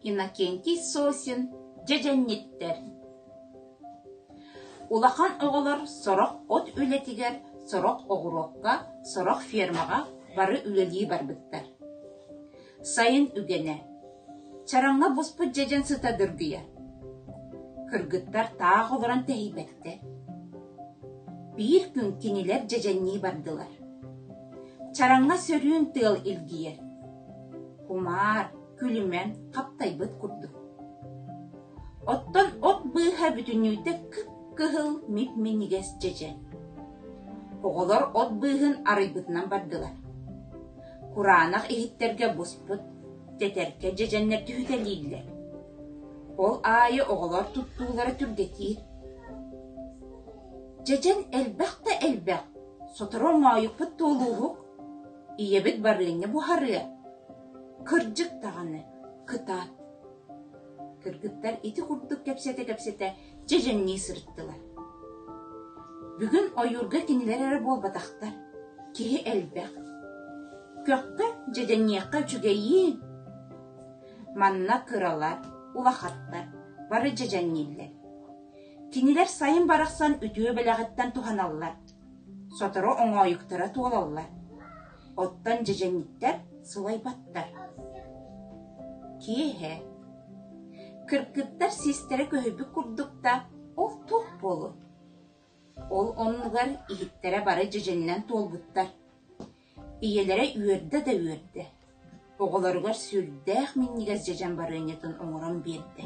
Иннокентий Сосин дьэдьэнниттэр Улахан оҕолор сорох от үлэтигэр, сорох оҕуруокка, сорох фермаҕа бары үлэлии барбыттар. Сайын үгэнэ. Чараҥҥа буспут дьэдьэн сыта дыргыйар. Кыргыттар таах олорон тэһийбэттэр. Биир күн кинилэр дьэдьэннии бардылар. Чараҥҥа сөрүүн тыал илгийэр. Кумаар, күлүмэн хаптайбыт курдук. Оттон от быыһа бүтүннүүтэ кып-кыһыл мип-минигэс дьэдьэн. Оҕолор от быыһын арыйбытынан бардылар. кураанах иһиттэргэ буспут, тэтэркэ дьэдьэннэр түһүтэлииллэр. Ол аайы оҕолор туттуулара түргэтиир. Дьэдьэн элбэх да элбэх сотору моойукпут туолууһук, ийэбит барылыҥҥа буһарыа. Кырдьык даҕаны, кыта. Кыргыттар ити курдук кэпсэтэ-кэпсэтэ дьэдьэҥнии сырыттылар. Бүгүн ойуурга кинилэр эрэ буолбатахтар, киһи элбэх. Көхкө, дьэдьэҥиэххэ үчүгэйиин. Манна кыралар, улахаттар бары дьэдьэҥнииллэр. Кинилэр сайын барахсан үтүө бэлэҕиттэн туһаналлар, сотору оҥоойуктара туолаллар. Оттон дьэдьэҥиттэр сылайбаттар. Киэһэ кыргыттар сиистэрэ көһүйбүт курдуктар ол туох буолуой? Ол оннугар иһиттэрэ бары дьэдьэнинэн туолбуттар. Ийэлэрэ үөрдэ да үөрдэ. Оҕолоругар сүрдээх минньигэс дьэдьэн барыанньатын оҥорон биэрдэ.